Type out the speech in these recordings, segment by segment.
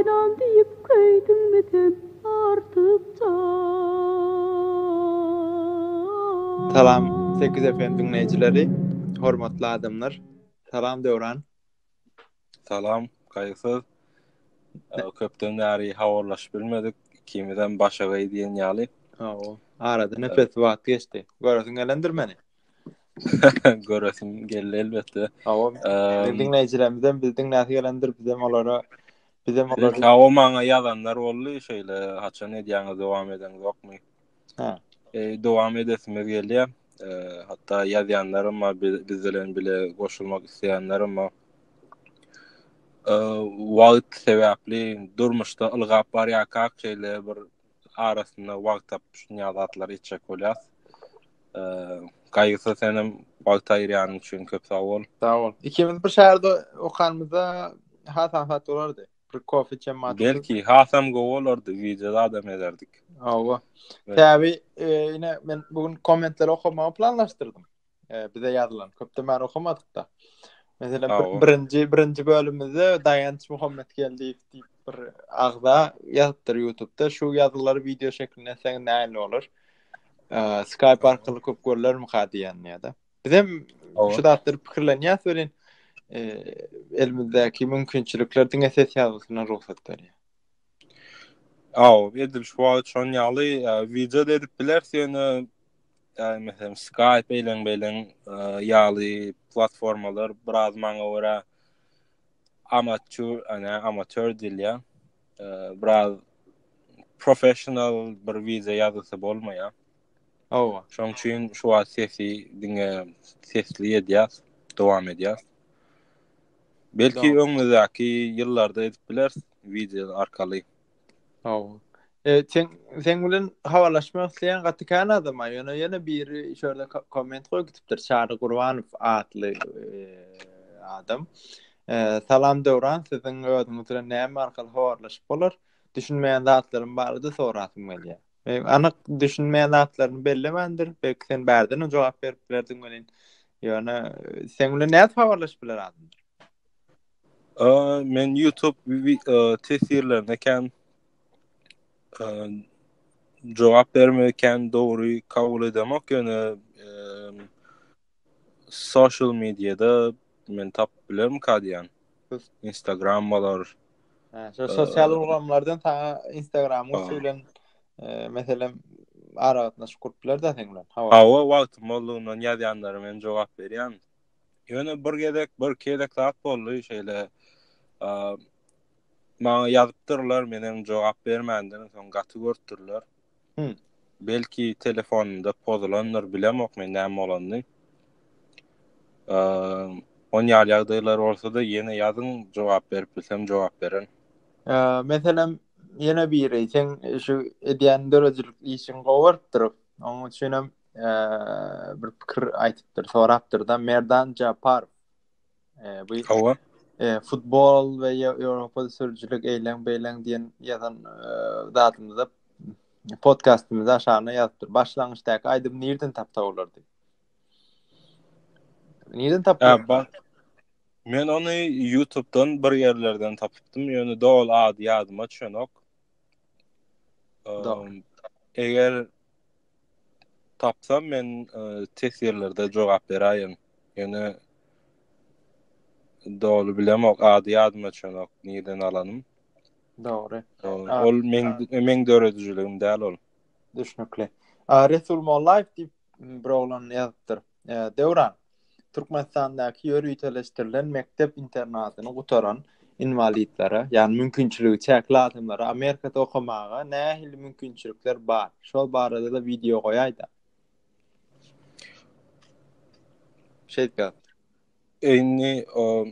Aýlan diýip köýdüňmi sen artykça. Salam Sekiz FM diňleýjileri, hormatly adamlar. Salam Döwran. Salam Gaýgysyz. Köpden bäri habarlaşyp bilmedik. Ikimiz hem başagaý diýen ýaly. Hawa. Arada nepes wagt geçdi. Göresiň gelendir meni. Göresim geldi elbetde. Hawa. Ehm, Diňleýjilerimizden biz diňläsi gelendir, biz hem olara biz hem olara Hawa maňa ýazanlar boldy şeýle haçan edýäňiz dowam edeňiz ýokmy? Ha. E, dowam edesimiz gelýär. E, hatda ýazýanlarym bar, bi- biz bilen bile goşulmak isleýänlerim bar. E, wagt sebäpli durmuşda ylgap barýarkak şeýle bir arasynda wagt tapyp şunýa zatlar etjek bolýas. Gaýgysyz senem wagt aýyrýanyň üçin köp sag bol. Sag bol. Ikimiz bir şäherde okanymyzda hasam hat bolardy. Bir kofe içen maty. Belki hasam gowy bolardy, wideoda adam ederdik. Hawa. Täbi, ine men bugün kommentleri okamagy planlaşdyrdym. e, bize ýazylan. Köpden bäri okamadykda. Mesela bir, birinji birinji bölümimizde Daýanç Muhammet geldi diýip bir agza ýazypdyr YouTube-da. Şu ýazgylary video şeklinde sen näme bolar? E, Skype arkaly köp görlermi ka diýen ýa-da. Biz hem şu zatlar pikirlenýäs welin e, elimizdäki mümkinçilikler diňe ses ýazgysyna rugsat berýär. Aw, edil şu wagt şon ýaly e, video edip bilersiň, ýöne Yani mesela Skype eýlen beylen e, ýaly platformalar biraz maňa görä amatör, yani amatör dilýä. E, biraz professional bir wize ýazgysy bolmaýar. Hawa. Şoň üçin şu wagt sesi diňe sesli edýär, dowam edýär. Belki öňümizdäki ýyllarda edip bileris wideo arkaly. Hawa. E, sen sen bilen habarlaşmak isleýän gaty kän adam bar. Ýöne ýene biri şöyle komment goýup gitipdir. Çary Gurbanow atly e, adam. E, salam Döwran, siziň özüňiz bilen näme arkaly habarlaşyp bolar? Düşünmeýän zatlarym barada sorasym gelýär. E, anyk düşünmeýän zatlaryny bellemändir. Belki sen bärden hem jogap berip bilerdiň welin. Ýöne e, sen bilen nädip habarlaşyp biler adam? Aa, men YouTube e, tesirlerine kän e, jogap bermegi kän dogry kabul edemok, ýöne e, social mediada men tap bilerim kadyan. Instagram bolar. Ha, şu sosyal ulgamlardan sana Instagram uçu bilen e, meselem aragatnaşyk kurup biler de sen bilen. Hawa, wagtym boldugyna ýazýanlara men jogap berýän. Ýöne bir gezek, bir gezek zat boldy, şeýle maňa ýazypdyrlar, men hem jogap bermändim, soň gaty görüpdirler. Hmm. Belki telefonunda pozulandyr, bilemok men näme bolanyny. Eee, on ýaly ýagdaýlar bolsa-da, ýene ýazyň, jogap berip bilsem, jogap beren. Eee, meselem, ýene biri, sen şu edýän döredijilik işiň gowy bolupdyr. Onuň üçin hem bir pikir aýdypdyr, sorapdyr-da Merdan Japar. E, bu Hawa. E, futbol we Ýewropada sürüjilik eýleň beýleň diýen ýazan e, zadymyzda podkastymyzda aşagyna ýazypdyr. Başlangyçdaky aýdym nirden tapsa bolar diýip. Nirden tapyp? Men ony YouTube-dan bir ýerlerden tapypdym. Ýöne doly ady ýadyma düşenok. Eger tapsam men e, test ýerlerde jogap beräýen. Ýöne doly bilemok, ady ýadyma çönok, nirden alanym. Dogry. Ol men men döredijiligim däl ol. Düşnükli. Resul Mollaýew diýip bir oglan ýazypdyr. Döwran, Türkmenistandaky ýöriteleşdirilen mekdep internatyny gutaran inwalidlere, ýagny mümkinçiligi çäkli adamlara Amerikada okamaga nähili mümkinçilikler bar? Şol barada-da wideo goýaý-da. Şeýtkä. Indi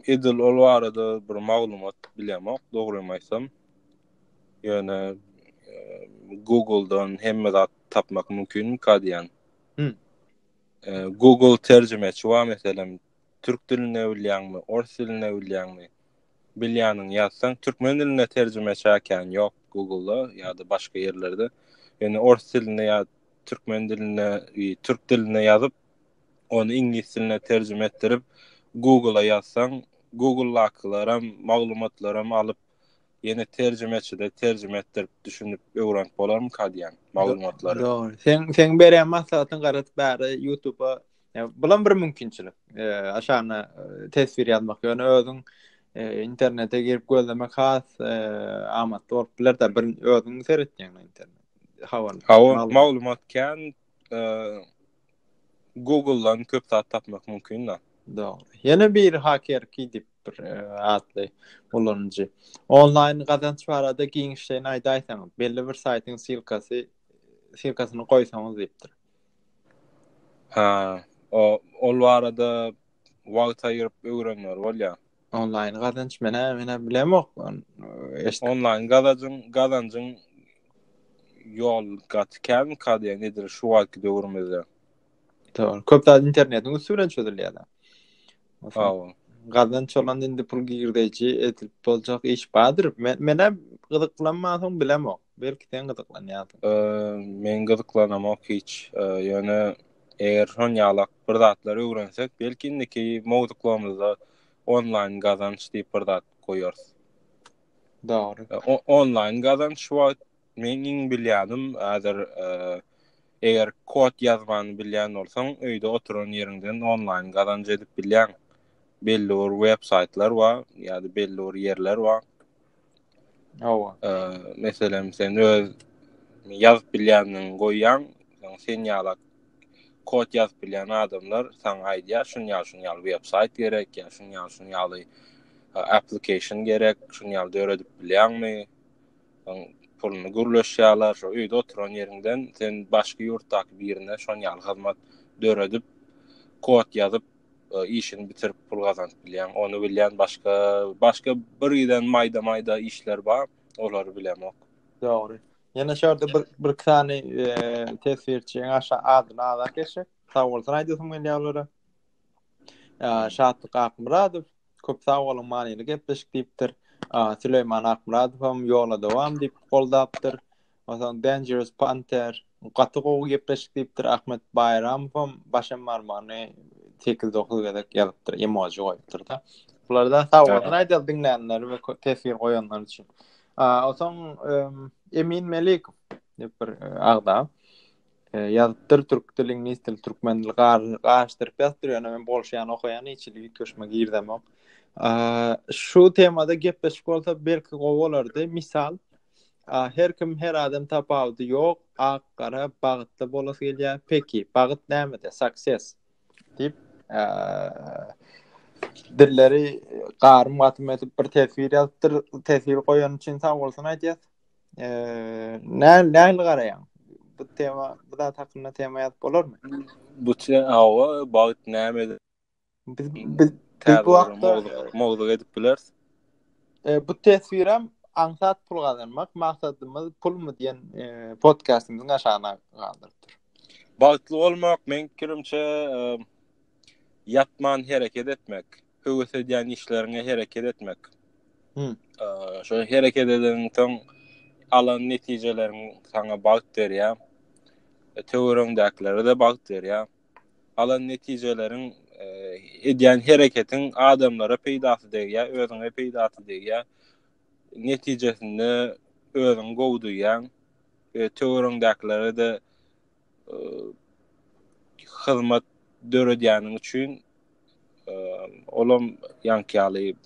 edil ol barada bir maglumat bilemok, dogrymy aýtsam. Ýöne Google-dan hemme zat tapmak mümkin mi ka diýýän. Google terjimeçi bar meselem türk dilinde bilýäňmi ors dilinde bilýäňmi bilýäniňi ýazsaň türkmen dilinde terjimeçi äkäni ýok Google-da ýa-da başga ýerlerde ýöne ors dilinde ýa türkmen dilinde türk dilinde ýazyp ony iňlis diline terjime etdirip Google-a ýazsaň Google-dakylaram maglumatlaram alyp Ýene terjimeçide terjime etdirip düşünip öwrenip bolarmyka diýen maglumatlary. Dogry. Sen sen berýän maslahatyň garadyp bäri YouTube-a e, bulam bir mümkinçilik. E, aşana e, teswir ýazmak ýöne özüň e, internete girip gözlemek has e, amatly bolup biler da bir özüň seretýäň internet. Hawa. Hawa maglumat kän e, Google-dan köp zat tapmak mümkin da. Dogry. Ýene bir haker ki dip bir e, atly ulanyjy. Onlaýn gazanç barada giňişleýin aýdaýsaňyz, belli bir saýtyň silkasy silkasyny goýsaňyz diýipdir. Ha, o ol barada wagt aýyryp öwrenýär bolýar. Onlaýn gazanç menä menä bilemok. E, Onlaýn gazanjyň gazanjyň ýol gaty kän kadiýa nedir şu wagtky döwrümizde. Dogry. Köp zat internetiň üsti bilen çözülýär. Hawa. Gazdan çolan indi pul girdeji edip boljak iş bardyr. Men menä gyzyklanmasaň bilemok. Belki sen gyzyklanýarsyň. Eee, men gyzyklanamok hiç. Eee, ýöne eger şon ýalak bir zatlar öwrensek, belki indiki mowzuklarymyzda onlaýn gazanç diýip bir zat goýarys. Dogry. Eee, o- onlaýn gazanç şu wagt Meň iň bilýanim häzir eger kod ýazmany bilýän bolsaň öýde oturan ýeriňden onlaýn gazanç edip bilýäň. Belli bir web saýtlar bar ýa-da belli bir ýerler bar. Hawa. Meselem sen öz ýazyp bilýäniň goýýaň, sen ýalak kod ýazyp bilýän adamlar saňa aýdýar, şuny ýaz, şuny ýaz, web saýt gerek, ýa şuny ýaz, şuny ýaly application gerek, şuny ýaly döredip bilýäňmi? Soň puluny gürleşýärler, şo öýde oturan ýeriňden sen başga ýurtdaky birine şon ýaly hyzmat döredip, kod ýazyp, e, işini bitirip pul gazanyp bilýän. Ony bilýän başga başga bir giden maýda-maýda işler bar, olary bilemok. Dogry. Ýene şu ýerde bir bir iki sany e, teswirçiň aşa adyny azak geçsek, sag bolsun aýdasym gelýär olara. Ýa Şatlyk Akmyradow, Köp sag boluň manyly gepleşik diýipdir. Süleýman Akmyradow hem ýola dowam diýip goldapdyr. Onsoň Dangerous Panther gaty gowy gepleşik diýipdir. Ahmet Baýramow hem başym barmagyny sekiz dokuz gezek ýazypdyr, emoji goýupdyr-da. Bularda sag bolsun aýdaly diňlänler we teswir goýanlar üçin. Onsoň Emin Melikow diýip bir agza. Ýazypdyr türk dil iňlis dil türkmen dil garyşdyryp ýazypdyr ýöne men bolşýan okaýan hiç hili üýtgeşme girizemok şu temada gepleşik bolsa belki gowy bolardy misal her kim her adam tapawudy ýok ak gara bagtly bolasy gelýär peki bagt nämede success diýip dilleri garym gatym edip bir teswir ýazypdyr teswir goýan üçin sag bolsun aýdýas Näl näl garaýaň? Bu tema, bu zat hakynda tema ýazyp bolarmy? Bu awa bagt näme? Biz biz bu wagtda mowzuk edip bileris. E, bu teswiram aňsat pul gazanmak maksadymyz pulmy diýen e, podkastymyzyň aşagyna galdyrypdyr. Bagtly bolmak men kirimçe e, ýatman hereket etmek. höwes edýän işleriňe hereket etmek. Hmm. Şöyle hereket edeniň soň alan netijeleriň sana bagt berýär. E, Töwerüňdäkilere de bagt berýär. Alan netijeleriň e, edýän hereketiň adamlara peýdasy degýär, özüňe peýdasy degýär. Netijesinde özüň gowy duýýan. E, Töwerüňdäkilere de hyzmat döredýäniň üçin olam ýaňky ýaly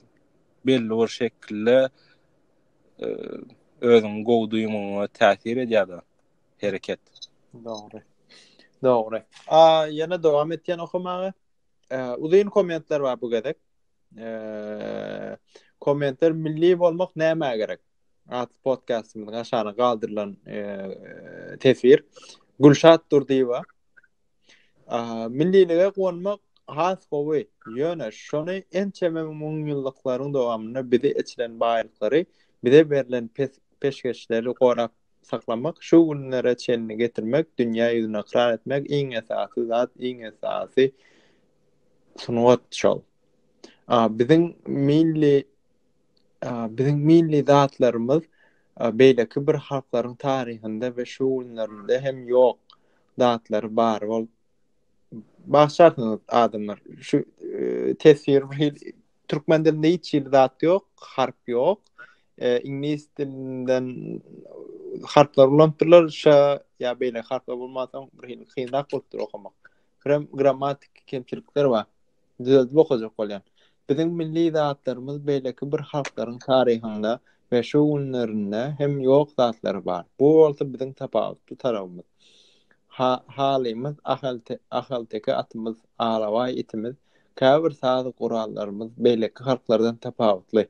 belli bir şekilde özüňi gowy duýmagyňa täsir edýär hereket. Dogry. Dogry. A ýene dowam etýän okamaga. Uzyn kommentler bar bu gezek. Kommentler milli bolmak nämä gerek? Atly podkastymyzyň aşagyna galdyrylan teswir. Gülşat Durdyýewa. Millilige gonmak has gowy. Ýöne şony ençeme müňýyllyklaryň dowamynda bize eçilen baýlyklary, bize berlen peşgeşleri gorap saklamak, şu günlere çenli getirmek, dünýä ýüzüni ykrar etmek iň esasy zat, iň esasy sungat şol. Biziň milli Biziň milli zatlarymyz beýleki bir halklaryň taryhynda we şu günlerinde hem ýok zatlary bar bolup bagşarsyňyz adamlar şu teswir türkmen dilinde hiç hili zat ýok harp ýok iňlis dilinden harplar ulanypdyrlar şa ýa beýleki harplar bolmansoň bir hili kynrak bolupdyr okamak birem grammatik kemçilikler bar. Düzeldip okajak bolýan. Biziň milli zatlarymyz beýleki bir halklaryň taryhynda we şu günlerinde hem ýok zatlar bar. Bu bolsa biziň tapawutly tarabymyz. Ha, halymyz, ahalte, ahalteke atymyz, alabaý itimiz, käbir saz gurallarymyz beýleki halklardan tapawutly.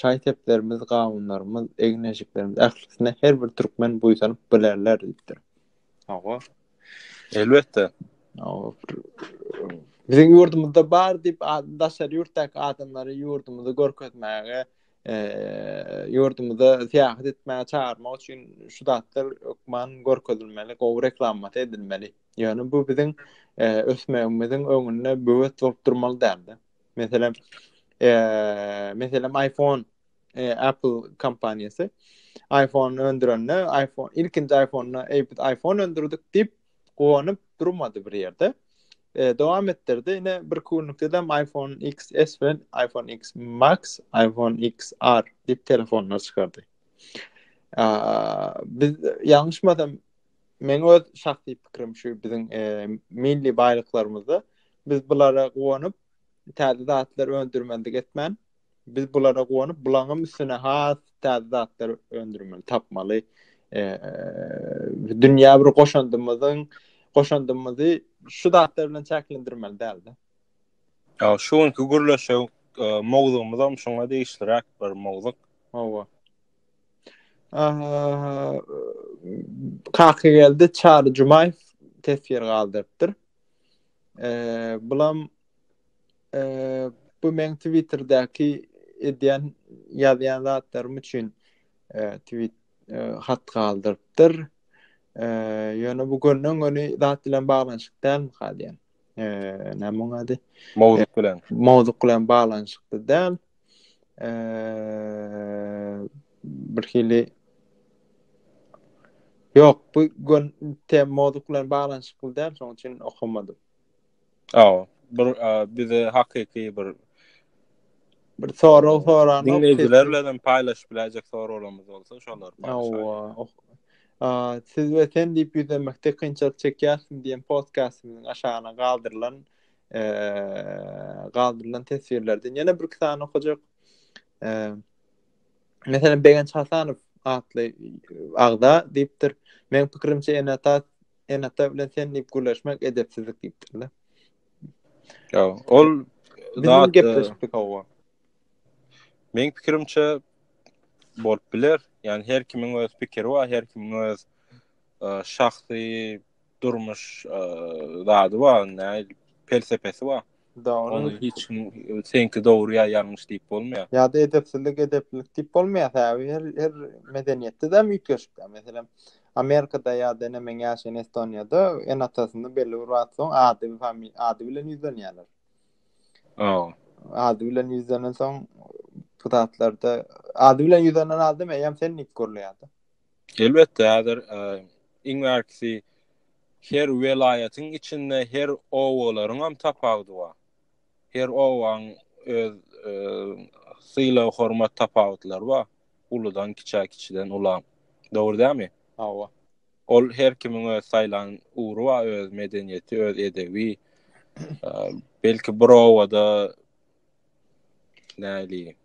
Şaý-seplerimiz, gawunlarymyz, eginejiklerimiz ählisine her bir türkmen buýsanyp bilerler diýipdir. Hawa, Elbetde. Biziň ýurdumyzda bar diýip daşary ýurtdaky adamlary ýurdumyzy görkezmäge, ýurdumyza syýahat etmäge çagyrmak üçin şu zatlar hökman görkezilmeli, gowy reklamasy edilmeli. Ýöne bu biziň ösmegimiziň öňünde böwet bolup durmaly däldi. Meselem, meselem iPhone e, Apple kompaniýasy iPhone öndürende iPhone ilkinji iPhone-na eýpit iPhone öndürdik diýip gowanyp durmady bir ýerde. E, dowam etdirdi. Ine bir günlükde de iPhone XS we iPhone X Max, iPhone XR diýip telefonlar çykardy. A, biz ýalňyşmasam men öz şahsy pikrim şu biziň e, milli baýlyklarymyzda biz bulara gowanyp täze zatlar öndürmendik etmän Biz bulara guwanyp, bulaňam üstüne has täze zatlar öndürmeli, tapmaly. Dünýä bir goşandymyzyň goşandymyzy şu zatlar bilen çäklendirmeli däldi. Ýa şu günki gürleşik mowzugymyz hem şoňa degişliräk bir mowzuk. Hawa. Kaka geldi Çary Jumaýew teswir galdyrypdyr. Eee bulam Eee, bu meň Twitterdäki edýän, ýazýan zatlarym üçin, eee, tweet, eee, hat galdyrypdyr. Eee, ýöne bu gönden-göni zat bilen baglanyşykly dälmika diýen. Eee, näme onuň ady? Mowzuk bilen. Mowzuk bilen baglanyşykly däl. Eee, bir hili Ýok, bu gön tem mowzuk bilen baglanyşykly däl, şonuň üçin okamadym. Aw, bir bize hakyky bir bir sorag soran dinleýjiler bilen paýlaşyp biläýjek soraglarymyz bolsa şolary paýlaşaýyň. A siz we sen diýip ýüzlenmekde kynçylyk çekýärsiň diýen podkastymyzyň aşagyna galdyrylan e, galdyrylan teswirlerden ýene bir iki sany okajak. E, Mesela Begenç Hasanow atly agza diýipdir. Men pikirimçe Enata Enata bilen sen diýip gürleşmek edepsizlik diýipdir-le. Ýa, ol zat gepleşipdik hawa. Meň pikirimçe bolup biler. Ýani her kimiň öz pikiri bar, her kimiň öz e, şahsy durmuş e, zady bar, näme pelsepesi bar. Dogry. Ony hiç kim senki dogry ýa ýalňyş diýip bolmaýar. Ýa-da edepsizlik, edeplilik diýip bolmaýar. Sebäbi her her medeniýetde-de üýtgeşikdir. Meselem, Amerikada ýa-da ene meň ýaşaýan Estoniýada ene-atasyny belli bir wagt soň ady ady bilen ýüzlenýärler. Hawa. Ady bilen ýüzlenen soň bu zatlarda ady bilen ýüzlenen adam eýýäm sen diýip gürleýär-de. Elbetde, häzir iň bärkisi her welaýatyň içinde her obalaryň hem tapawudy bar. Her obanyň öz sylag hormat tapawutlary bar. Uludan kiçä, kiçiden ula. Dogry dälmi? Hawa. Ol her kimiň öz saýlan ugry bar, öz medeniýeti, öz edebi. Belki bir obada Näli.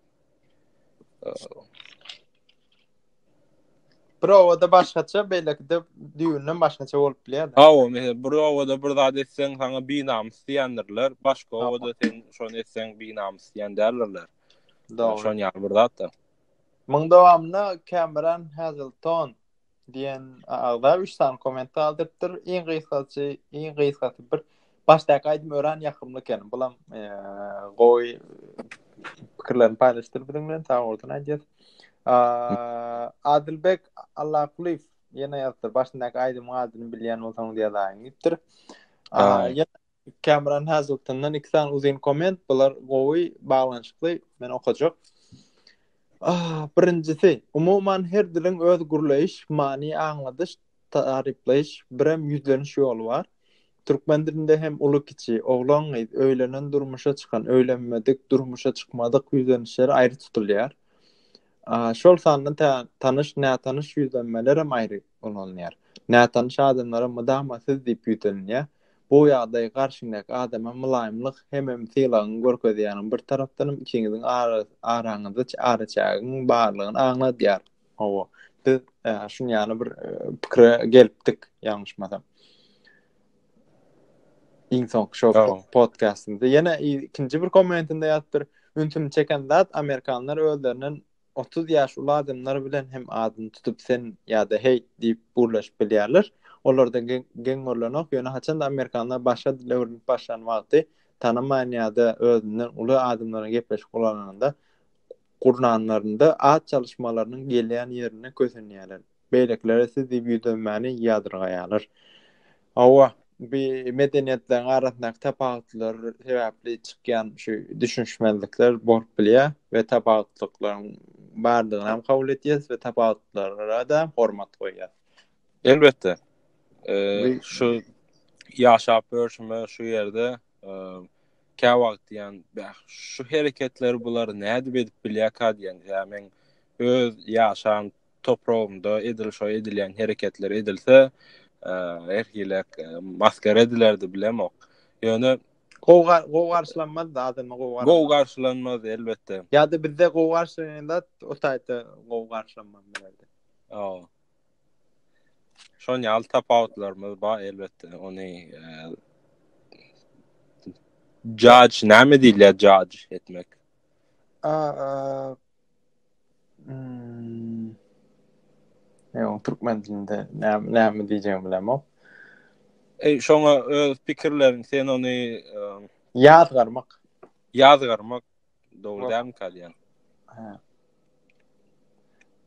Bir owada başgaça, beýlekide düýünden başgaça bolup bilýär. Ha, o meselem bir owada bir zat etseň, saňa binamys diýendirler. Başga owada sen şony etseň, binamys diýen däldirler. Dogry. Şony ýaly bir zat da. Muň dowamyna Cameron Hazelton diýen agza üç sany komment galdyrypdyr. Iň gysgaçy, iň gysgasy bir başdaky aýdym öran ýakymly eken. Bulam e, gowy pikirlerini paýlaşdyr biziň bilen. Sag bolsun aýdýas. Adilbek Allakuliýew ýene ýazdyr. Başdaky aýdymyň adyny bilýän bolsaňyz ýazaýyň diýipdir. Kamran Haziltondan iki sany uzyn komment, bular gowy baglanyşykly, men okajak. Ah, birinjisi, umuman her diliň öz gürleýiş, many aňladyş, taryplaýyş, birem ýüzleniş ýoly bar. Türkmen dilinde hem uly-kiçi, oglan-gyz, öýlenen, durmuşa çykan, öýlenmedik, durmuşa çykmadyk ýüzlenişler aýry tutulýar. Ah, şol sanda tä tanyş, nätanyş ýüzlenmelerem aýry ulanylýar. Nätanyş adamlara mydama siz diýip ýüzlenilýär. Bu ýagdaý garşyňdaky adama mylaýymlyk hemem sylagyňy görkezýäniň bir tarapdanam ikiňiziň araňyzda araçägiň barlygyny aňladýar. Hawa, biz şun ýaly bir pikire gelipdik, ýalňyşmasam. Iň soňky şo podkastymyzda ýene ikinji bir kommentinde ýatypdyr. Ünsümi çeken zat amerikanlar özlerinden 30 ýaş uly adamlar bilen hem adyny tutup sen ýa-da heý diýip gürleşip bilýärler. Olarda geň görlenok, ýöne haçanda amerikanlar başga dil öwrenip başlan wagty tanamaýan ýa-da özünden uly adamlaryň gepleşik guranlarynda at çalyşmalarynyň gelýän ýerinde kösenýärler. Beýlekiler siz diýip ýüzlenmäni ýadyrgaýarlar. Hawa, bu medeniýetleriň arasyndaky tapawutlar sebäpli çykýan şu düşünişmezlikler bolup bilýär we tapawutlyklaryň bardygyny hem kabul edýäris we tapawutlara-da hormat goýýarys. Elbetde, şu ýaşap ýörşüme şu ýerde käwagt diýýän, bäh, şu hereketleri bular nädip edip bilýärkä diýýän, ýa men öz ýaşan topragynda edil şo edilýän hereketler edilse, her hili maskar edilerdi bilemok. Ýöne gowy gowy garşylanmaz da adamda gowy garşylanmaz. Gowy garşylanmaz elbetde. Ýa-da bizde gowy garşylanan zat o taýda gowy garşylanmaz bilerdi. Ýa. Şoň ýaly tapawutlarymyz bar elbetde. Ony judge näme diýilýär judge etmek? A Hmm. Ýa, türkmen dilinde näme näme diýjegimi bilemok. Eý, şoňa öz pikirleriň, sen ony ýazgarmak. Ýazgarmak dogry dämi kalýan? Hä.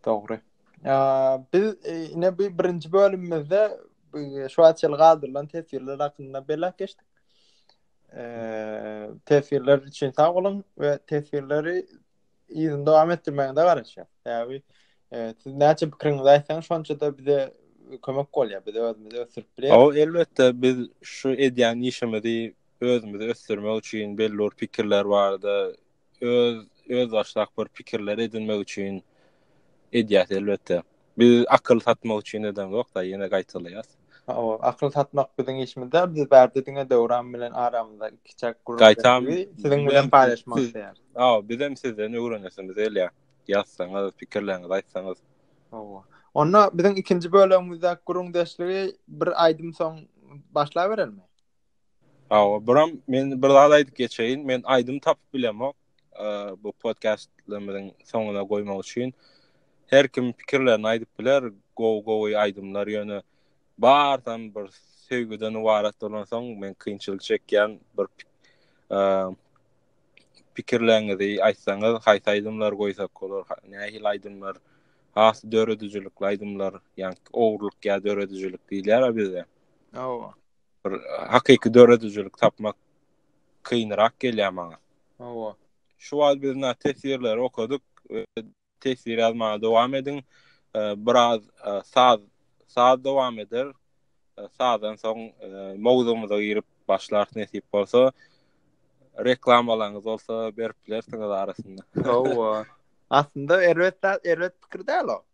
Dogry. Ýa, biz e, ine bu birinji bölümimizde e, şu açyl galdyrylan teswirler hakynda belläp geçdik. Eee, teswirler üçin sag boluň we teswirleri Yzyny dowam etdirmegiňize garaşýar. Sebäbi e, siz näçe pikiriňizi aýtsaňyz, şonça-da bize kömek bolýar. Biz özümizi ösdürip bilýäris. O elbetde biz şu edýän işimizi özümizi ösdürmek üçin belli bir pikirler barada öz öz başlak bir pikirler edinmek üçin edýäs elbetde. Biz akyl satmak üçin edeňok da ýene gaýtalaýas. Hawa, akyl satmak biziň işimiz däl. Biz bärde diňe Döwran bilen aramyzda ikiçäk gürrüň Gaýtam, edip, siziň bilen bizem- paýlaşmak siz- isleýäris. Hawa, bizem sizden öwrenesimiz gelýär. Ýazsaňyz, pikirleriňizi aýtsaňyz. Hawa. Onda biziň ikinji bölegimizdäki gürrüňdeşligi bir aýdym soň başlaberelimi? Hawa, buram men bir zat aýdyp geçeýin. Men aýdym tapyp bilemok. bu podkastlarymyzyň soňuna goýmak üçin her kim pikirlerini aýdyp biler. Gowy gowy aýdymlar ýöne bardan bir söýgüden ibarat bolan soň men kynçylyk çekýän bir pikirleňizi aýtsaňyz haýsy aýdymlar goýsak bolar nähil aýdymlar has döredijilikli aýdymlar ýa-ni ogurlyk ýa döredijilik diýilýär bizde. Hawa. Bir hakyky döredijilik tapmak kynrak gelýär maňa. Hawa. Şu wagt biz na teswirleri okadyk. Teswir ýazmaga dowam ediň. Biraz saz saz dowam eder. Sazdan soň mowzugymyza girip başlarys nesip bolsa. Reklamalaryňyz bolsa berip bilersiňiz arasynda. Hawa. Aslynda erbet zat, erbet pikir däl o.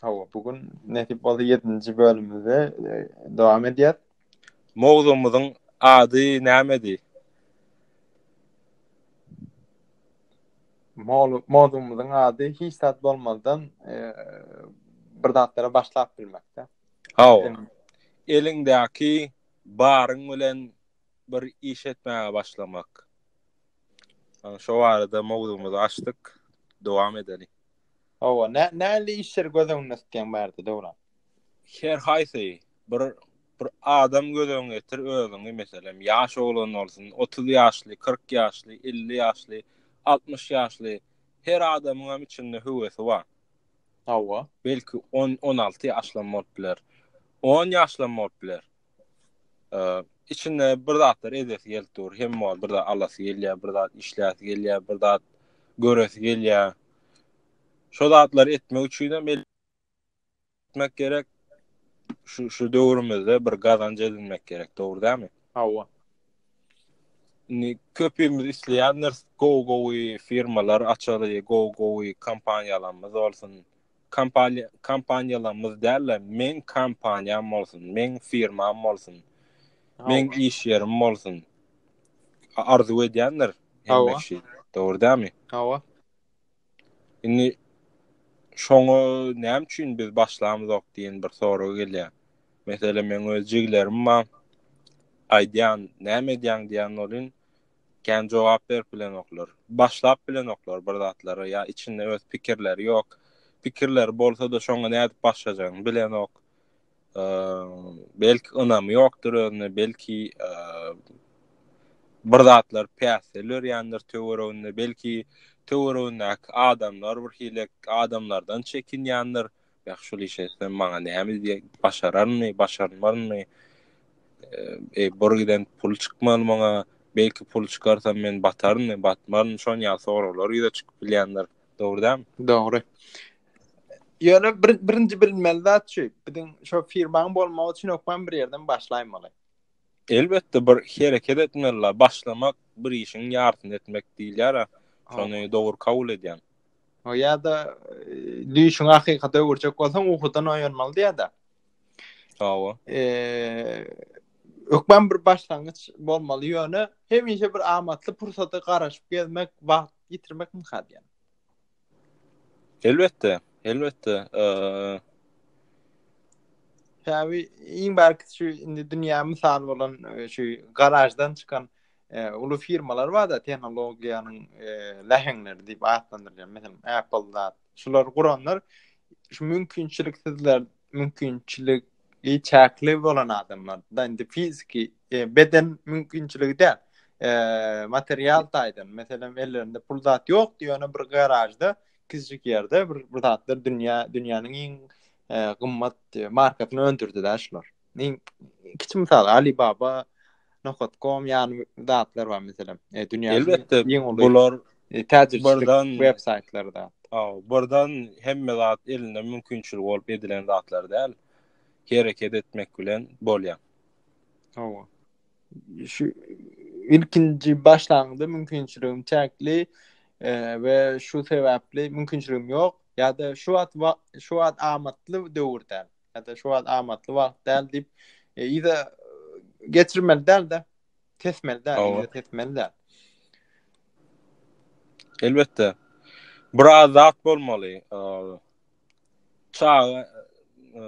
Hawa, bu gün nesip bolsa 7-nji bölümimize e, dowam edýär. Mowzumyzyň ady nämedi? Mol- Mowzumyzyň ady hiç zat bolmazdan e, bir zatlara başlap bilmekde. Hawa. Eliňdäki baryň bilen bir iş etmäge başlamak. Ýa, Şo barada mowzumyzy açdyk. Dowam edeli. Hawa, nä näli işleri göz öňünde tutýaň bärde Döwran? Her haýsy bir bir adam göz öňüne getir özüňi meselem ýaş oglan bolsun, 30 ýaşly, 40 ýaşly, 50 ýaşly, 60 ýaşly her adamyň hem içinde höwesi bar. Hawa. Belki 10 16 ýaşlam bolup biler. 10 ýaşlam bolup biler. içinde bir zatlar edesi gelip dur, hem var bir zat alasy gelýär, bir zat işläsi gelýär, bir zat göresi gelýär. Şu zatlar etmek üçin hem el etmek gerek. Şu şu döwrümizde bir gazanç edinmek gerek, dogry dämi? Hawa. Ni köpümiz isleýändir, go go firmalar açaly, go go kompaniýalarymyz bolsun. Kompaniýa, kompaniýalarymyz däl-de, meň kompaniýam bolsun, meň firmam bolsun, meň iş ýerim bolsun. Arzuw edýändir hemme kişi. Dogry dämi? Hawa. Indi şoňa näme üçin biz başlamyzok diýen bir sorag gelýär. Meselem, meň öz jiglerim bar. Aýdýan, näme edýäň diýen bolun. Kän jogap berip bilenoklar. Başlap bilenoklar bir zatlary ýa içinde öz pikirleri ýok. Pikirleri bolsa-da şoňa nädip başlajagyny bilenok. Belki ynamy ýokdur özüne, belki bir zatlar päsgel örýändir töwereginde, belki töweregindäki adamlar birhili adamlardan çekinýändir. Ýa şul işe etsem maňa näme diýýär? Başararmy, başarmarmy? E, bor giden pul çykmaly maňa. Belki pul çykarsa men batarmy, batmarmy? Şon ýa soraglar ýüze çykyp bilýändir. Dogry dämi? Dogry. Ýöne bir, birinji bilmeli zat şu. Biziň şo firmaň bolmagy üçin okman bir ýerden başlaýmaly. Elbetde bir hereket etmeli. Başlamak bir işiň ýarsyny etmek diýilýär. Şony dogry kabul edýän. Ýa-da düýşüňi hakykata öwürjek bolsaň, uhudan oýanmaly diýýär-de. Hawa. Hökman bir başlangyç bolmaly, ýöne hemişe bir amatly pursata garaşyp gezmek, wagt ýitirmek mümkin diýýär. Elbetde, elbetde. Tabi iň barky şu indi dünýä mysal bolan şu garajdan çykan uly firmalar bar da tehnologiýanyň läheňleri diýip atlandyrýan meselem apple da şular guranlar şu mümkinçilik sizler mümkinçilik i çäkli bolan adamlar da indi fiziki e, beden mümkinçiligi däl e, material taýdan meselem ellerinde pul zat ýok diýene bir garažda kiçijik ýerde bir bir zatlar dünýä dünýäniň iň e, gymmat e, markasyny öndürdi da şular Men kiçi mysal Alibaba Nohotkom ýaly zatlar bar meselem. E, dünýäniň Elbetde, iň uly bular e, täjirçilik web saýtlary da. Aw, birden hemme zat elinde mümkinçilik bolup edilen zatlar däl. Hereket etmek bilen bolýar. Hawa. Şu ilkinji başlangyda mümkinçiligim çäkli e, we şu sebäpli mümkinçiligim ýok ýa-da şu wagt şu wagt amatly döwür däl. ýa-da şu wagt amatly wagt däl diýip, e, ýa-da geçirmeli däl-de, tesmeli däl, ýa-da tesmeli däl. Elbetde. Bir azat bolmaly. E, çaga e,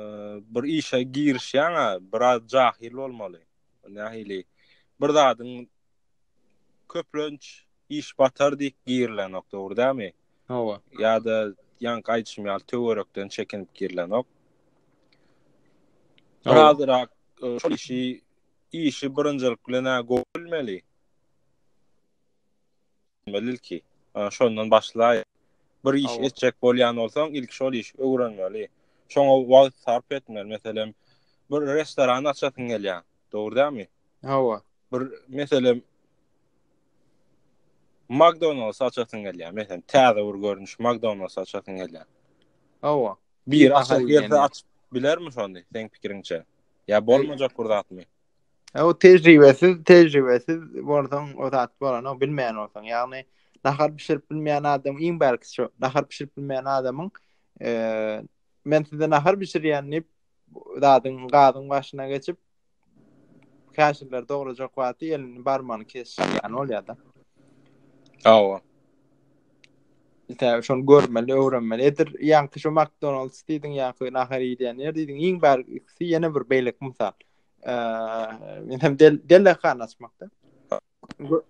bir işe girişýän, biraz jahil bolmaly. Nähili? Bir zadyň köplenç iş batar diýip girilenok, dogry dämi? Hawa. Ýa-da ýaňky aýdyşym ýaly töwerekden çekinip girilenok. Azyrak e, şol işi işi birinjilik bilen gowy bilmeli. Bilmeli ki, şondan başlaý. Bir iş etjek bolýan bolsaň, ilk şol işi öwrenmeli. Şoňa wagt sarp etmeli. Meselem, bir restoran açasyň gelýär. Dogry dämi? Hawa. Bir meselem McDonald's açasyň gelýär. Meselem, täze bir görnüş McDonald's açasyň gelýär. Hawa. Bir açar ýerde açyp bilermi şonda? Seň pikiriňçe? Ýa bolmajak bir zatmy? Hawa, tejribesiz, tejribesiz bolsaň, o zat bolany bilmeýän bolsaň, ýagny nahar bişirip bilmeýän adam iň bärkisi şu. Nahar bişirip bilmeýän adamyň eee men size nahar bişirýän diýip zadyň gazyň başyna geçip käşirler dograjak wagty elini barmany kesýän bolýar-da. Awa. Tä şony görmeli, öwrenmeli. Edir ýaňky şu McDonald's diýdiň ýaňky nahar iýýän ýer diýdiň. Iň bar ikisi ýene bir beýleki mysal. Eee, men hem del delehana açmakda.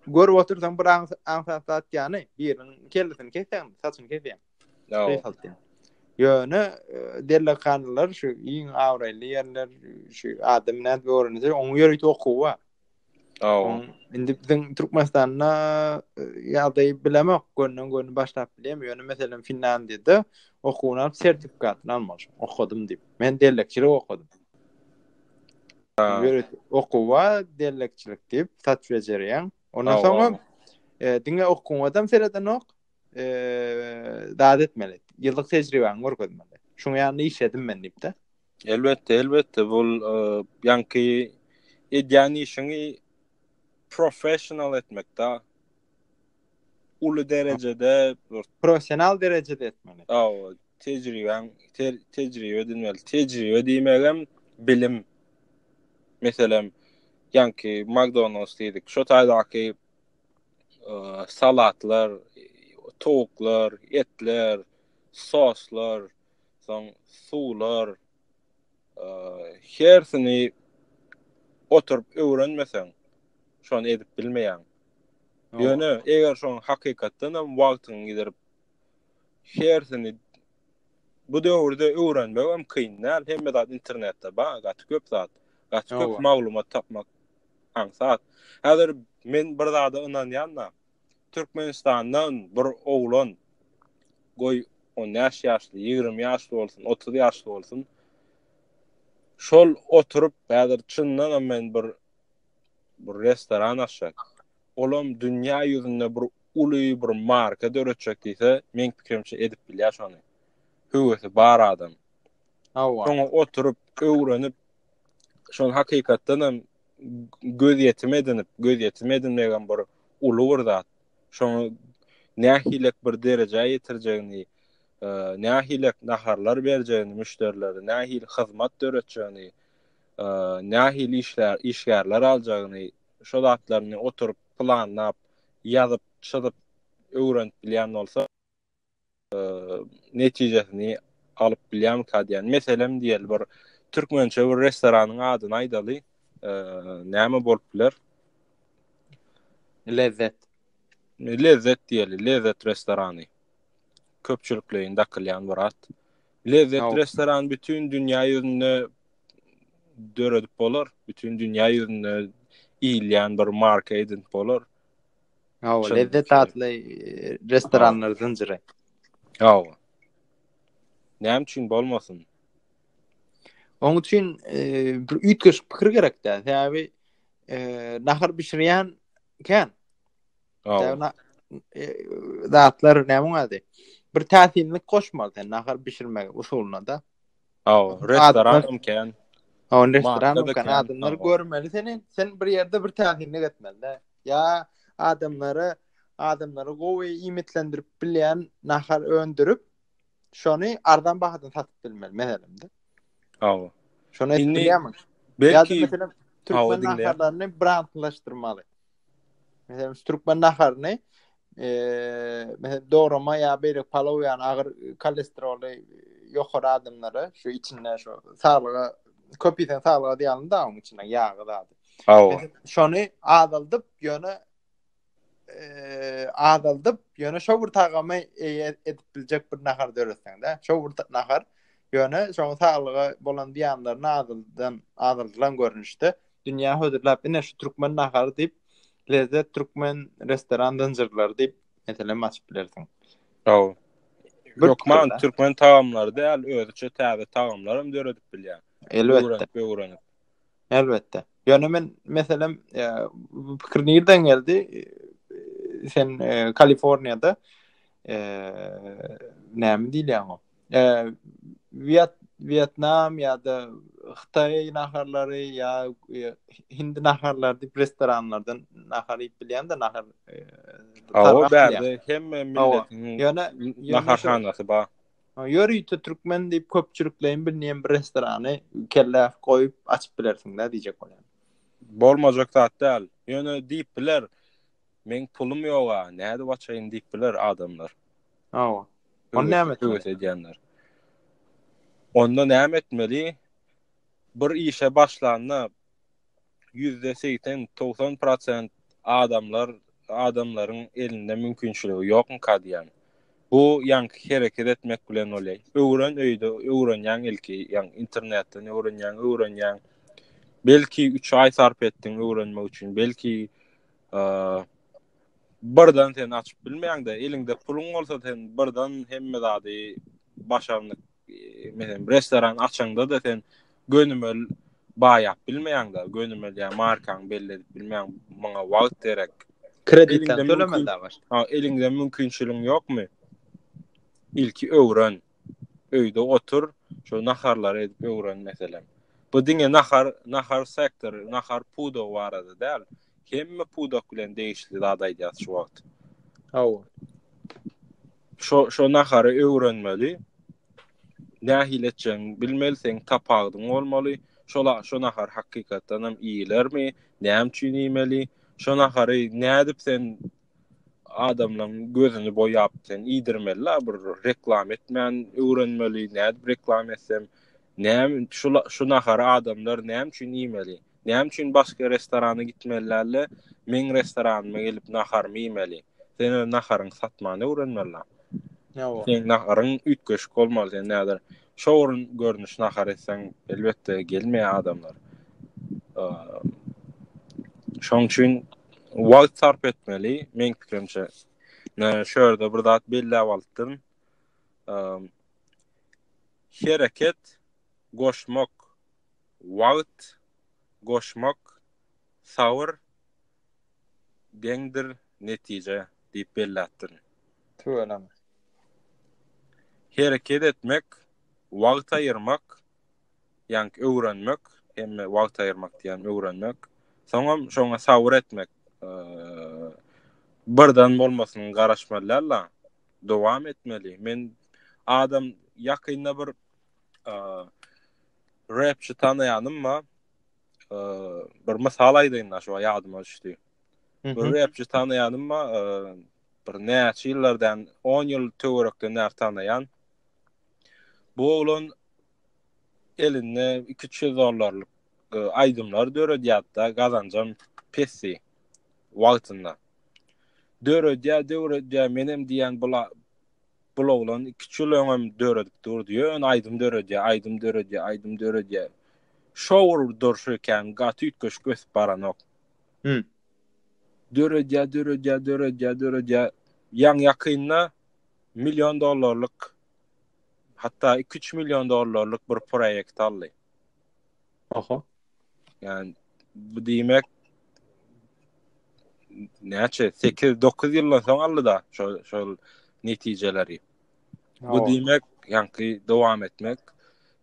Görüp otursaň bir aňsat zat ýany, biriniň kellesini kesýän, saçyny kesýän. Ýa. Ýöne e, derlekanlar şu iň awraýly ýerler, şu adam nädip öwrense, onuň ýörite okuwy bar. Aw. Indi biziň Türkmenistanda e, ýagdaýy bilemok, gönden göni başlap bilýän, ýöne meselem Finlandiýada okuwyny alyp sertifikatny almaly, okadym diýip. Men derlekçilik okadym. okuwa dellekçilik diýip sat bejerýäň. Ondan soňra e, diňe okuňa hem seredenok. E, Dad etmeli. Ýyllyk tejribäňi görkezmeli. Şuň ýany iş edim men diýip-de. Elbetde, elbetde bu e, ýanky edýän işiňi professional etmekde. uly derejede bir professional derejede etmeli. Awa, tejribäň, ter, tejribe edinmeli. Tejribe diýmegem bilim. Meselem, ýanki McDonald's diýdik. Şo taýdaky e, salatlar, towuklar, etler, soslar, soň suwlar, hersini oturyp öwrenmeseň, şony edip bilmeýäň. Ýöne eger şoň hakykatdan hem wagtyňy gidirip hersini bu döwürde öwrenmek hem kyn däl. Hemme zat internetde bar, gaty köp zat. Gaty köp maglumat tapmak aňsat. Häzir men bir zada ynanýan-da, Türkmenistandan bir oglan, goý, on bäş ýaşly, ýigrimi ýaşly bolsun, otuz ýaşly bolsun, şol oturyp, häzir çyndanam men bir bir restoran açjak, olam dünýä ýüzünde bir uly bir marka döretjek diýse, meň pikirimçe edip bilýär şony. Höwesi bar adam. Hawa. Şoňa oturyp, öwrenip, şol hakykatdan hem göz ýetim edinip, göz ýetim edinmek hem bir uly bir zat. Şoňa nähilek bir derejä ýetirjegini, e, nähilek naharlar berjegini müşderilere, nähili hyzmat döretjegini, e, nähili işler, işgärler aljagyny, şol zatlaryny oturyp planlap, ýazyp, çyzyp öwrenip bilýän bolsa, netijesini alyp bilýärmikä diýen. Meselem diýeli bir türkmençe bir restoranyň adyny aýdaly. Näme bolup biler? Lezzet. Lezzet diýeli, Lezzet restorany. Köpçülikleýin dakylýan bir at. Lezzet restoran bütün dünýä ýüzünde döredip bolar. Bütün dünýä ýüzünde iýilýän bir marka edinip bolar. Hawa, lezzet atly restoranlar zynjyry. Hawa. Näme üçin bolmasyn? Oň üçin e, bir üýtgeşik pikir gerek dä. Sebäbi e, nahar bişirýän kän. Hawa. E, zatlar näme ady? Bir täsinlik goşmaly sen nahar bişirmek usulyna da. Aw, restoran hem kän. Aw, restoran hem kän. Adamlar görmeli seni. Sen bir ýerde bir täsinlik etmeli. Ya adamlara adamlara gowy iýmitlendirip bilýän nahar öndürip, şony arzan bahadan satyp bilmeli, meselem. Aw. Şony etmeli. Belki türkmen naharlaryny brandlaşdyrmaly. Meselem, türkmen naharyny e, meselem doğrama ya beýle palaw ýany agyr kolesteroly ýokary adamlara şu içinde şu saglyga köp ýeten saglyga diýýän da onuň içinde ýagy zady. Awa. Şony azaldyp ýöne e, azaldyp ýöne şo bir tagamy edip biljek bir nahar döretseň de. Şo bir nahar ýöne şoň saglyga bolan diýanlaryny azaldan azaldylan görnüşde Dünýä hödürläp ine şu türkmen nahary diýip Lezzet türkmen restoran zynjyrlary diýip meselem açyp bilersiň. Hawa. Türkmen türkmen tagamlary däl, özüçe täze tagamlar hem döredip bilýär. Elbetde. Öwrenip. Elbetde. Ýöne men meselem e, bu pikir nirden geldi? E, sen e, Kaliforniýada eee näme diýilýär o? Wiet Wietnam ýa-da Hytaý naharlary ýa hindi naharlary diýip restoranlardan nahar iýip bilýän-de nahar. Awa bärde hemme milletiň ýöne naharhanasy bar. Ýörite türkmen diýip köpçülikleýin bilneýän bir restorany kelle goýup açyp bilersiň-dä diýjek bolýan. Bolmajak zat däl. Ýöne diýip biler. Meň pulum ýoga, nädip açaýyn diýip biler adamlar. Hawa. Onda näme etmeli? Höwes edýänler. Onda näme etmeli? Bir işe başlanda ýüzde segsen, togsan prosent adamlar, adamlaryň elinde mümkinçiligi ýokmyka diýýän. Bu ýaňky hereket etmek bilen bolýar. Öwren öýde, öwrenýäň ilki, ýaňy internetden öwrenýäň, öwrenýäň. Belki üç aý sarp etdiň öwrenmek üçin, belki birden sen açyp bilmeýäň de eliňde puluň bolsa sen birden hemme zady başarnyk menen restoran açanda da sen gönümel baýap bilmeýäň de gönümel ýa markaň belli edip bilmeýäň muňa wagt gerek kreditden tölemeli da baş ha eliňde mümkinçiligiň ýokmy ilki öwren öýde otur, şo naharlary edip öwren meselem. Bu diňe nahar, nahar sektor, nahar pudagy barada däl. Hemme pudak bilen degişli zat aýdýas şu wagt. Hawa. Şo şo nahary öwrenmeli. Nähili etjegini bilmeli, seň tapagdyň bolmaly. Şola şo nahar hakykatdan hem iýilermi? Näme üçin iýmeli? Şo nahary nädip sen adamlaň gözüni boýap sen iýdirmeli la bir reklam etmän öwrenmeli nädip reklam etsem näme şu şu nahary adamlar näme üçin iýmeli näme üçin başga restorana gitmeli dälde meň restoranyma gelip naharymy iýmeli sen öz naharyňy satmany öwrenmeli la seň naharyň üýtgeşik bolmaly sen näder Şowrun görnüş nahar etseň, elbetde gelmeýär adamlar. Şoň üçin wagt sarp etmeli, meň pikirimçe. Men şu ýerde bir zat belläp alypdym. Hereket goşmak, wagt goşmak, sabr deňdir netije diýip belläpdirin. Tüweleme. Hereket etmek, wagt aýyrmak, ýaňky öwrenmek, hemme wagt aýyrmak diýýän öwrenmek, soňam şoňa sabyr etmek. Birden bolmasyny garaşmaly däl-de, dowam etmeli. Men adam ýakynda bir rapçi tanaýanym bar. bir mysal aýdaýyn da şu ýadyma düşdi. Bir repçi tanaýanym ma bir näçe ýyllardan 10 ýyl töwerekden näçe tanaýan. Bu oglan elinde 200 dollarlyk aýdymlar döredýärdi, gazanjam pesdi wagtynda. Döredýär, döredýär, menem diýen bula Bul oglan iki üç ýyl öňem döredip durdy, ýöne aýdym döredýär, aýdym döredýär, aýdym döredýär. Şowur durşy ekän, gaty üýtgeşik ösüp baranok. Hum. Döredýär, döredýär, döredýär, döredýär. Ýaňy ýakynda million dollarlyk, hatda iki üç million dollarlyk bir proýekt aldy. Aha. Yani bu diýmek näçe 8-9 ýyldan soň aldy-da şol şol netijeleri. Bu diýmek, ýaňky dowam etmek,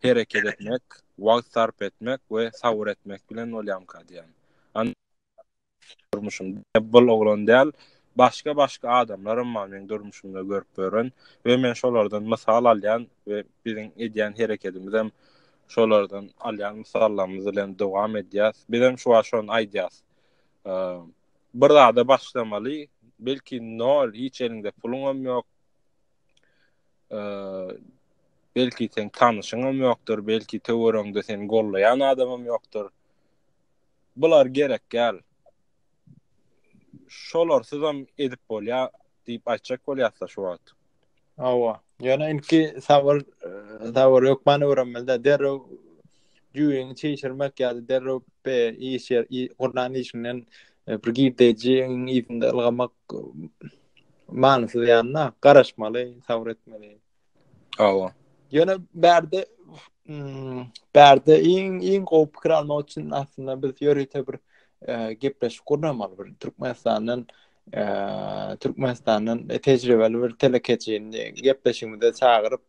hereket etmek, wagt sarp etmek we sabr etmek bilen bolýamka diýen. durmuşum bul oglan däl başga başga adamlaram bar meň durmuşumda görüp ýören we men şolardan mysal alýan we biziň edýän herekedimizem şolardan alýan mysallarymyz bilen dowam edýäs bizem şu wagt şony aýdýas bir zada başlamaly belki nol hiç eliňde puluňam ýok belki seň tanyşyňam ýokdur belki töweregiňde seni gollaýan adamam ýokdur. Bular gerek däl. Şolarsyzam edip bolýar diýip aýtjak bolýasda şu wagt. Hawa. Ýöne ilki sabyr, sabyr hökmany öwrenmeli-de. Derrew düýbüňi çişirmek ýa-da derrew be iş ýer, gurnan işiňden bir girdejiň yzynda ylgamak manysyz ýaly-da. Garaşmaly, sabyr etmeli. Awa. Ýöne bärde hmm, bärde iň iň gowy pikir almak üçin aslynda biz ýörite bir e, gepleşik gurnamaly bir Türkmenistandan e, Türkmenistandan e, tejribeli bir telekeçini gepleşigimize çagyryp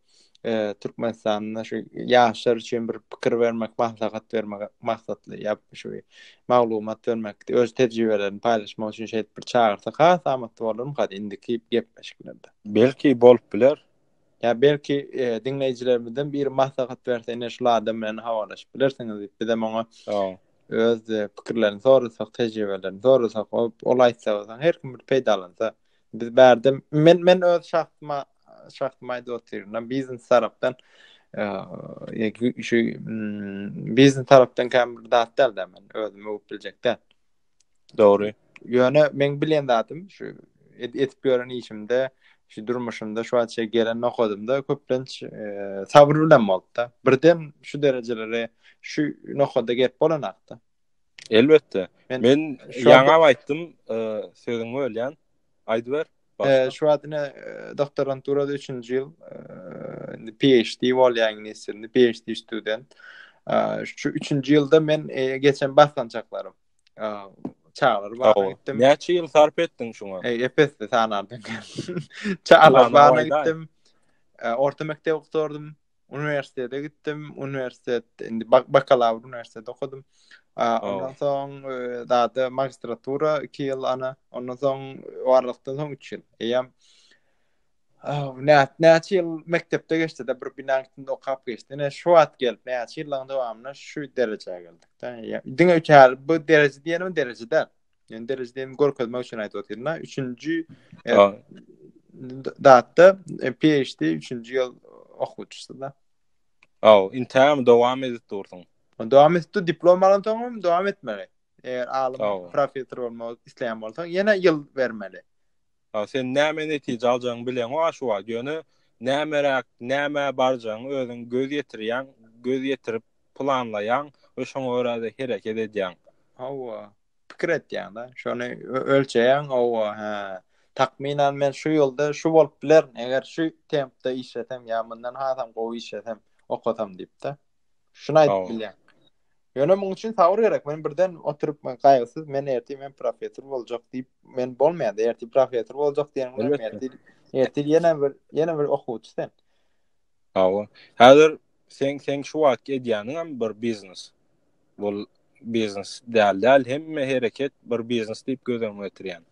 e, Türkmenistanda şu ýaşlar üçin bir pikir bermek, maslahat bermek maksatly ýap şu maglumat bermek, öz tejribelerini paýlaşmak üçin şeýdip bir çagyrsa has amatly bolarmy hadi indiki gepleşiklerde. Belki bolup biler. Ýa belki diňleýjilerimizden biri maslahat berse, ine şul adam bilen habarlaşyp bilersiňiz diýip, bizem oňa öz pikirlerini sorasak, tejribelerini sorasak, ol aýtsa bolsa, her kim bir peýdalansa. Biz bärde men men öz şahsyma şahsyma aýdyp otyryn, biznes tarapdan şu biznes tarapdan käm bir zat däl-de men özümi öwüp biljek däl. Dogry. Ýöne meň bilen zatym şu edip ýören işimde, şu durmuşymda şu wagtça gelen nokadymda köplenç sabr bilen bolupda. Birden şu derejelere şu nokada gelip bolanakda. Elbetde. Men ýaňam aýtdym, sözüňi bölýän. Aýdyber. Ee, şu wagt ine e, doktoranturada 3-nji ýyl e, PhD bolýan nesirli PhD student. Ee, şu 3-nji ýylda men e, geçen basgançaklarym e, çagalar bagyna gitdim. Näçe ýyl sarp etdiň şuňa? E, epesli sanardan. Çagalar bagyna gitdim. E, orta mekdep okurdym. Uniwersitete gitdim. Uniwersitet indi bakalawr uniwersitete okudym. Ondan soň dady e, magistratura 2 ýyl ana. Ondan soň warlykdan soň 3 ýyl. Eýem Näçe näçe ýyl mekdepde geçdi de bir binaň içinde okap geçdi. Ne şu wagt gelip näçe ýyllaryň dowamynda şu derejä geldik. Diňe üçär bu dereje diýenim derejede. Yani derecedemi görkezmek üçin aytip otyr. Na üçünji e, datta e, PhD üçünji yıl okuçusu da. Aw, intäm dowam edip dursun. Dowam edip dur diplom alan soňam dowam etmeli. Eger alym professor bolmak isleýän bolsaň, ýene ýyl bermeli. Ha, sen näme netije aljagyňy bileň o şu wagt. Ýöne nämeräk, näme barjagyňy özüň göz ýetirýäň, göz ýetirip planlaýaň we şoňa görä-de hereket edýäň. Hawa. pikir etýäň da. Şony ölçeýäň, owa, hä. Takmynan men şu ýylda şu bolup biler, eger şu tempde işlesem ýa mundan hasam gowy işlesem, okasam diýipdi. Şuny aýdyp bilýän. Ýöne muň üçin sabr gerek. Men birden oturyp men gaýgysyz, men erti men professor boljak diýip, men bolmaýar. Erti professor boljak diýen bilen erti erti ýene bir ýene bir okuwçy sen. Hawa. Häzir sen sen şu wagt edýäniň hem bir biznes. Bul biznes däl däl hemme hereket bir biznes diýip göz öňüne getirýän.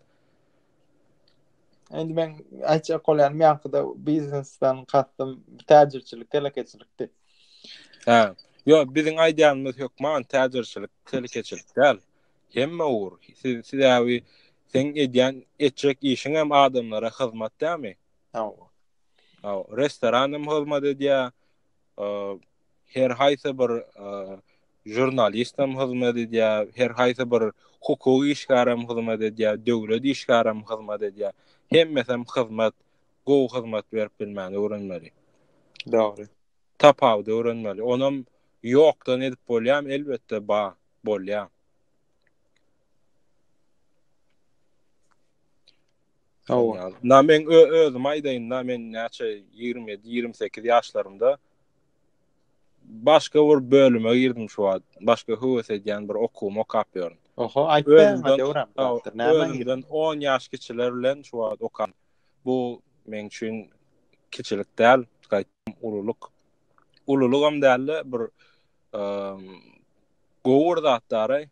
Endi men aýtjak bolýan meňkide biznesden kastym täjirçilik, telekeçilikdi. Hä. Ýo, biziň aýdýanymyz hökman täjirçilik, telekeçilik däl. Hemme ugur. Siz siz äwi sen edýän etjek işiň hem adamlara hyzmat dämi? Hawa. Hawa, restoran hem hyzmat edýär. Her haýsy bir žurnalist hem hyzmat edýär, her haýsy bir hukuk işgäri hem hyzmat edýär, döwlet işgäri hem hyzmat edýär. Hemmesi hem hyzmat, gowy hyzmat berip bilmäni öwrenmeli. Dogry. Tapawudy öwrenmeli. Onam ýokdan edip bolýarmy? Elbetde, ba, bolýar. Hawa. Na men özüm aýdaýyn, na men näçe 27-28 ýaşlarymda Başga bir bölüme girdim şu wagt. Başga höwes edýän bir okuwymy okap ýörün. Oho, aýtmaýaňa döwüräp barapdyr. Nämä girdiň? Özümden on ýaş kiçiler bilen şu wagt okan. Bu meň üçin kiçilik däl, gaýtam ululyk. Ululygam däl-de, bir gowy bir zat daraý.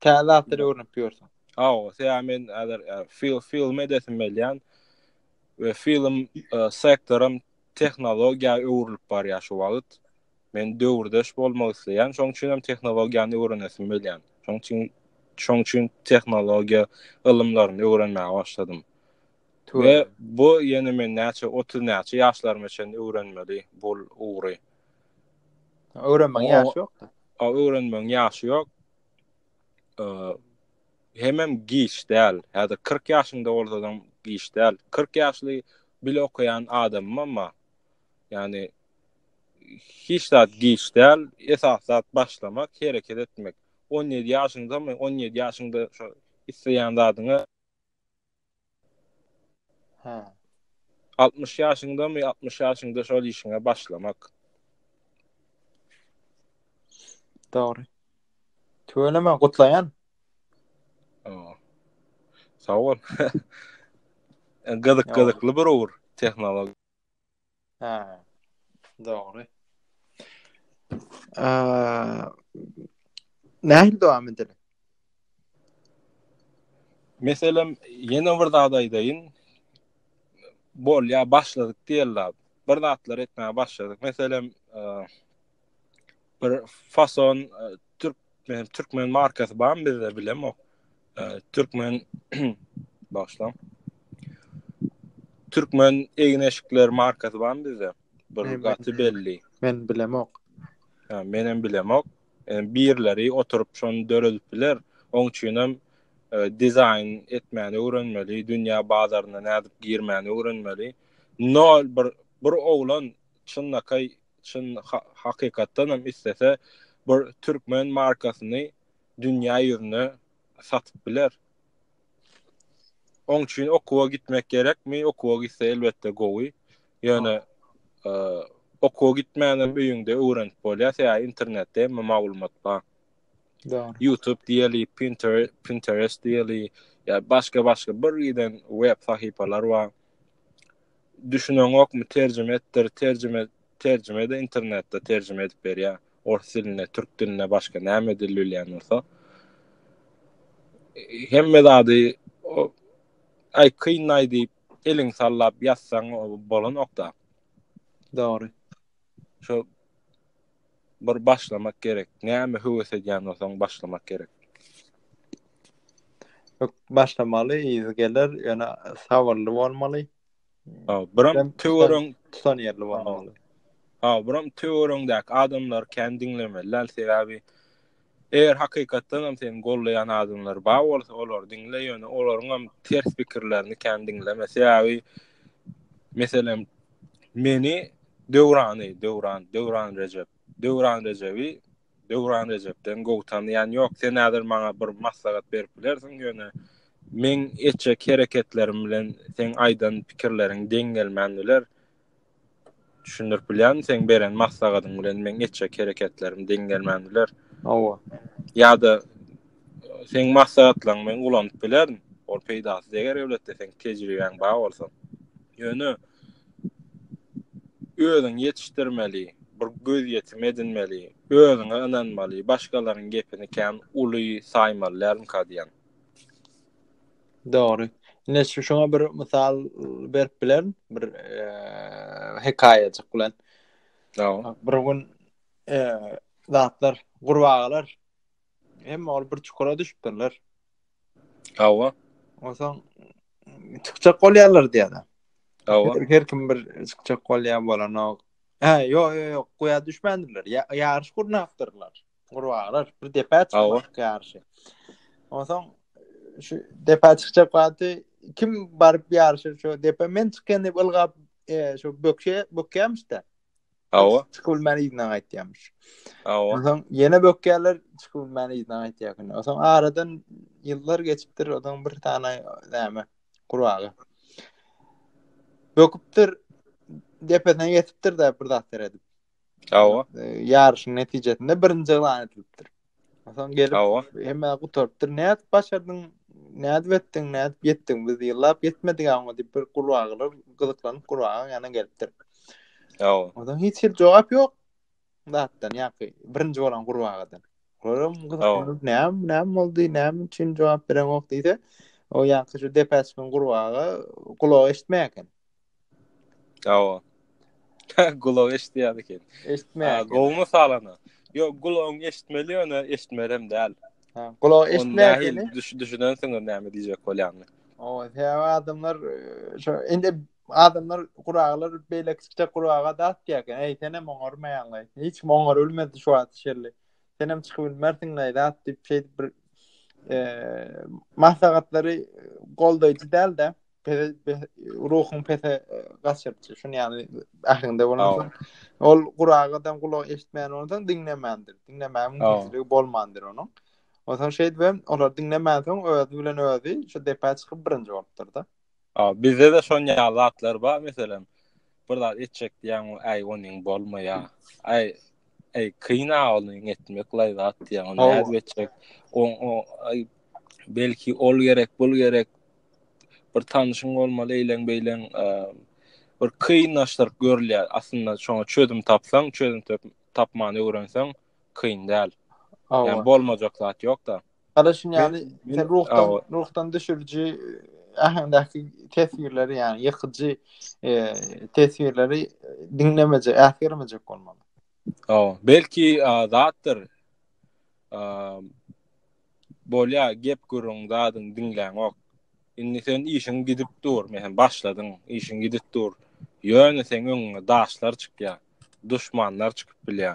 Täze zatlar öwrenip ýörsüň. Hawa, sebäbi men häzir film edesim gelýän we film sektorym Tehnologiýa öwrülip barýar şu wagyt. Men döwürdeş bolmak isleýän, şoň üçin hem tehnologiýany öwrenesim gelýän. Şoň üçin şoň üçin tehnologiýa ylymlaryny öwrenmäge başladym. Tüweleme. We bu ýene men näçe otuz näçe ýaşlaryma çenli öwrenmeli bul ugry. Öwrenmegiň ýaşy ýok-da. Öwrenmegiň ýaşy ýok. hemem giç däl. Häzir 40 ýaşyňda bolsaň giç däl. 40 ýaşly bile okaýan adamym emma ýani hiç zat giç däl. Esas zat başlamak, hereket etmek. 17 ýaşyňda, 17 ýaşyňda şu isleýän zadyňa Hä. 60 ýaşyňdamy, 60 ýaşyňda şol işiňe başlamak. Dogry. Tüweleme, gutlaýan. Oo. Sag bol. Gyzyk, gyzykly bir ugur, tehnologiýa. Hä. Dogry. Eee Nähili dowam edeli? Meselem, ýene bir zat aýdaýyn. Bol, ýa başladyk diýeli zat. Bir zatlar etmäge başladyk. Meselem, eee bir fason e, türk men türkmen markasy bar bizde bilem o e, türkmen başlam türkmen egneşikler markasy bar bizde bir gaty belli men bilem ok ha men hem bilem ok e, birleri oturup şonu döredip biler oň üçin hem dizaýn etmäni öwrenmeli dünýä bazaryna nädip girmäni öwrenmeli nol bir bir oglan çynnakaý Çyn hakykatdan hem islese bir türkmen markasyny dünýä ýüzüne satyp biler. Oň üçin okuwa gitmek gerekmi? Okuwa gitse elbetde gowy. Ýöne e, okuwa gitmän hem öýüňde öwrenip bolýar. Ýa internetde hem maglumat bar. Doğru. YouTube diýeli, Pinterest, Pinterest diýeli, ýa başga başga bir giden web sahypalar bar. Düşüneňokmy terjime etdir terjime terjime de internetde terjime edip berýär ors diline türk diline başga näme dil bilýän bolsa hemme zady aý kynlaý diýip eliň sallap ýazsaň bolanokda. Dogry. Şo Bir başlamak gerek. Näme höwes edýän bolsaň başlamak gerek. Başlamaly, yzy geler, ýöne sabyrly bolmaly. Ha, biram töwerek tutan ýerli bolmaly. Ha, biram töweregiňdäki adamlar kän diňlemeli, sebäbi Eger hakykatdan hem seni gollaýan adamlar bar bolsa olary diňle ýöne olaryň hem ters pikirlerini kän diňleme sebäbi meselem meni Döwrany Döwran Döwran Rejep Döwran Rejebi Döwran Rejepden gowy tanýan ýok sen häzir maňa bir maslahat berip bilersiň ýöne meň etjek hereketlerim bilen seň aýdan pikirleriň deň gelmän biler Düşündirip bilýärmi seň beren maslagadyň bilen meň etjek hereketlerim deň gelmän biler. Hawa. Ýa-da seň maslahatlaryňy men ulanyp bilerin. Ol peýdasyz eger öwletde seň tejribäň bar bolsa. Ýöne özüň ýetişdirmeli, bir gözýetim edinmeli, özüňe ynanmaly, başgalaryň gepini kän uly saýmaly dälmika diýýän. Dogry. Ine şu şoňa bir mysal berip bilerin, bir eee hekaýajyk bilen. Dogry. Bir gün eee zatlar, gurbagalar hem ol bir çukura düşüpdirler. Hawa. Onsoň çykjak bolýarlar diýýär. Hawa. Her kim bir çykjak bolýar bolanok. Ha, ýok, ýok, ýok, guýa düşmändirler. Ýaryş gurnapdyrlar. Gurbalar bir depä çykmak ýaryşy. Onsoň şu depä çykjak wagty kim baryp ýaryşa şu depä men çykýan diýip ylgap e, şu bökşe bökýämişdi. Hawa. Çykyp bilmän ýerinden gaýtýarmyş. Hawa. Onsoň ýene bökýärler çykyp bilmän ýerinden gaýtýarkyn. Onsoň aradan ýyllar geçipdir, odan bir tane näme gurbaga. Böküpdir depesine ýetipdir de bir zat seredip. Awa. E, ýaryşyň netijesinde birinji ýylan edilipdir. Ondan gelip Awa. hemme gutarypdyr. Nädip başardyň? Nädip etdiň? Nädip ýetdiň? Biz ýyllap ýetmedik aňa diýip bir gurbagylar gyzyklanyp gurbagyň ýanyna gelipdir. Awa. Ondan hiç hil jogap ýok. Zatdan ýa-ki birinji bolan gurbagadan. Olam gyzyklanyp näme näme boldy? Näme üçin jogap bereňok diýse, o ýa-ki şu depäçiň gurbaga gulak eşitmeýär eken. Awa. Gulagy eşitýär eken. Eşitmeýär. Gowmy salana? Yo, gulagyň eşitmeli ýöne eşitmerem däl. Ha, gulagy eşitmeýär eken. Düş düşünensiňiz näme diýjek bolýany. Awa, sebäbi adamlar e, şo indi adamlar guraglar beýle kiçijek guraga dat diýerken, eý sen hem oňarmaýaňlaý. Hiç kim oňar bilmedi şu wagt şerli. Sen hem çykyp bilmersiň näý dat diýip şeýdip bir e, maslahatlary goldaýjy däl-de. ruhuň pese gaçyrypdy şuny ýaly ähliňde bolan ol guragadan gulak eşitmän ondan diňlemändir diňlemäň mümkinçiligi bolmandyr onuň ondan şeýdip hem olar diňlemän soň özi bilen özi şu depä çykyp birinji bolupdyr da bizde de şon ýaly zatlar bar meselem bir zat etjek diýen aý onuň bolmaýa aý aý kyna onuň etmek laý zat diýen ony nädip etjek o belki ol gerek bul gerek bir tanşyň bolmaly eýleň beýleň bir kynlaşdyryp görülýär aslynda şoňa çözüm tapsaň çözüm tapmany öwrenseň kyn däl ýa bolmajak zat ýokda Hala şun ýaly sen ruhdan ruhdan düşüriji äheňdäki teswirleri ýa ýykyjy e, teswirleri diňlemeje ähgermeje bolmaly. O, belki zatdyr. Bolýa gep gürüň zadyň diňläňok. Indi sen işiň gidip dur, mehem başladyň, işiň gidip dur. Ýöne seň öňüňe daşlar çykýa, duşmanlar çykyp bilýä.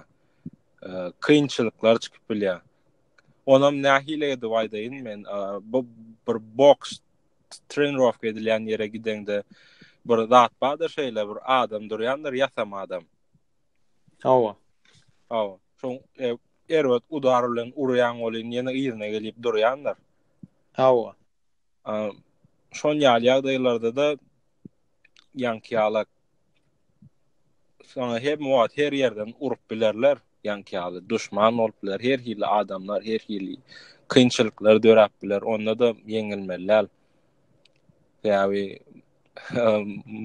Kynçylyklar çykyp bilýä. Onam nähili edip aýdaýyn men, bu bir boks trenirowka edilýän ýere gideňde bir zat bardyr şeýle bir adam durýandyr ýasama adam. Hawa. Hawa. Şoň e, erbet udar bilen urýan welin ýene yzyna gelip durýandyr. Hawa. Şon ýaly ýagdaýlarda da ýanki ýala sana hem wagt her ýerden urup bilerler ýanki ýaly duşman bolup biler her hili adamlar her hili kynçylyklar döräp biler onda da ýeňilmeli Sebäbi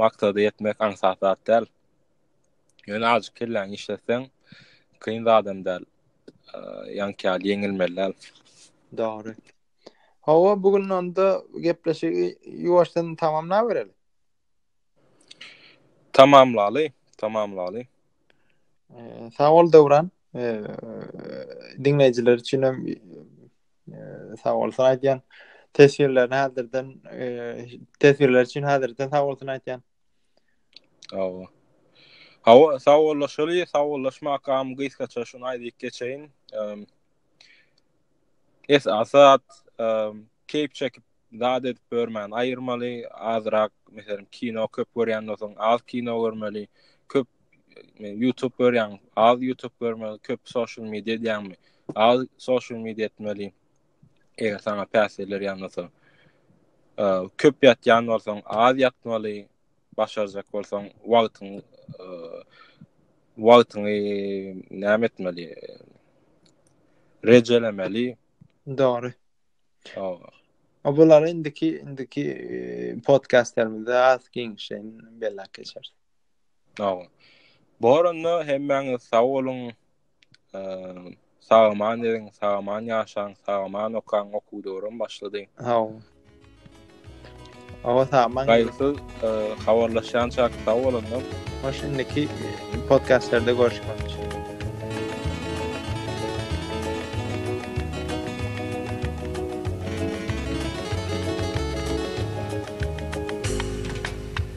maksada ýetmek aňsat zat däl. Ýöne azjyk kelläňi işletseň, kyn zadam däl. Ýaňky ýaly ýeňilmeli däl. Dogry. Hawa, bu gün onda gepleşigi ýuwaşdan tamamlabereli. Tamamlaly, tamamlaly. Sag bol Döwran. Diňleýjiler üçin hem sag bolsun aýdýan. Teswirlerini häzirden teswirler üçin häzirden sag bolsun aýdýan. Hawa. Hawa, sawollaşaly, sawollaşmakam gysgaça şuny aýdyp geçeýin. Es asat, keýp çekip zat edip görmän aýyrmaly, azrak, meselem, kino köp görýän bolsaň, az kino görmeli, köp YouTube görýän, az YouTube görmeli, köp social media edýänmi, az social media etmeli. Eger sana päsgeller ýanmasa, köp ýatýan bolsaň, az ýatmaly, başarjak bolsaň, wagtyň wagtyňy näme etmeli? Rejelemeli. Dogry. Hawa. A bular indiki indiki podkastlarymyzda az giňişleýin belläp geçeris. Hawa. Bu oranda hemmäňiz sag boluň, Sagaman derin, sagaman yaşan, sagaman okan oku döwrüm başladı. Haw. Hawa sagaman. Gaýgysyz e, habarlaşýan çak sag bolun. Hoş indiki podcastlerde görüşmek üçin.